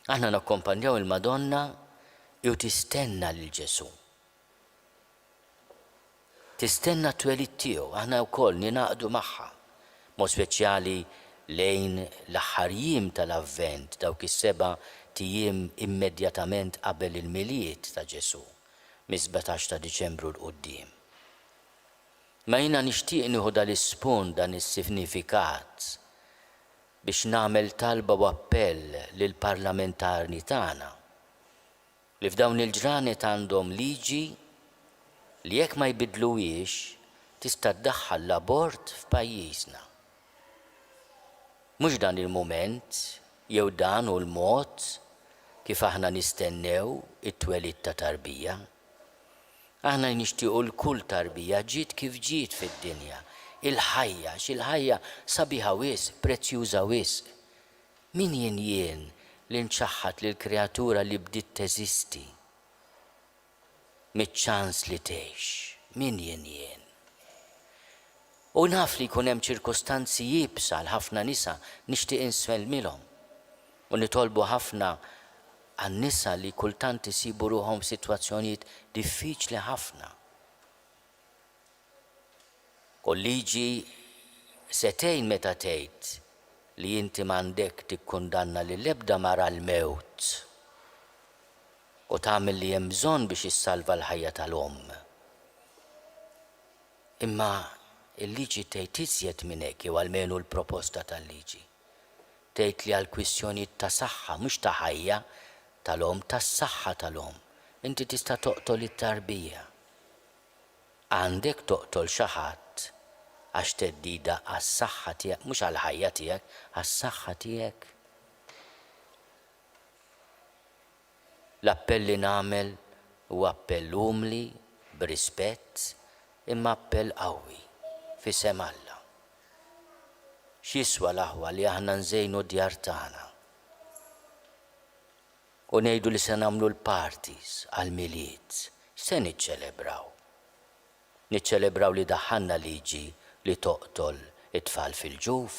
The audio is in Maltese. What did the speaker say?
Aħna nakkompanjaw il-Madonna u tistenna lil Ġesù. Tistenna t-twelid tiegħu, aħna wkoll ningħaqdu magħha, b'mod speċjali lejn l-aħħar jiem tal-Avvent, dawk is-seba' tijiem immedjatament qabel il-Milied ta' Ġesù, mis-sbatax ta' Diċembru 'l quddiem. Imma jiena nixtieq nieħu dal-ispunt, dan is-sifnifikat biex nagħmel talba u appell lill-parlamentarni tagħna li f'dawn il-ġranet għandhom liġi li jekk ma jbiddluhiex tista' ddaħħal l-abort f'pajjiżna. Mhux dan il-mument jew dan hu l-mod kif aħna nistennew it-twelid ta' tarbija. Aħna jnixtiequ l kull tarbija ġiet kif ġiet fid-dinja, il-ħajja, għax il-ħajja sabiħa wisq, prezzjuża wisq. Min jien jien li nċaħħad lill-kreatura li bdiet teżisti miċ-ċans li tgħix? Min jien jien? U naf li jkun hemm ċirkustanzi iebsa għal ħafna nisa, nixtieq insellmilhom u nitolbu ħafna għan-nisa li kultant isibu ruħhom f'sitwazzjonijiet diffiċli ħafna. U l-liġi se tgħin meta tgħid li inti m'għandek tikkundanna lil ebda mara għall-mewt u tagħmel li hemm bżonn biex issalva l-ħajja tal-omm. Imma l-liġi tgħid iżjed minn hekk jew almenu l-proposta tal-liġi. tgħid li għal kwistjonijiet ta' saħħa, mhux ta' ħajja tal-omm, tas-saħħa tal-omm, inti tista' toqtol it-tarbija. Għandek toqtol xi ħadd għax theddida għas-saħħa tiegħek, mhux għall-ħajja tiegħek, għas-saħħa tiegħek. L-appell li nagħmel huwa appell umli, b'rispett, imma appell qawwi, f'isem Alla. X'jiswa l-aħwa li aħna nżejnu d-djar tagħna u ngħidu li se nagħmlu l-parties għall-Milied? X'se niċċelebraw? Niċċelebraw li daħħalna liġi li toqtol it-tfal fil-ġuf?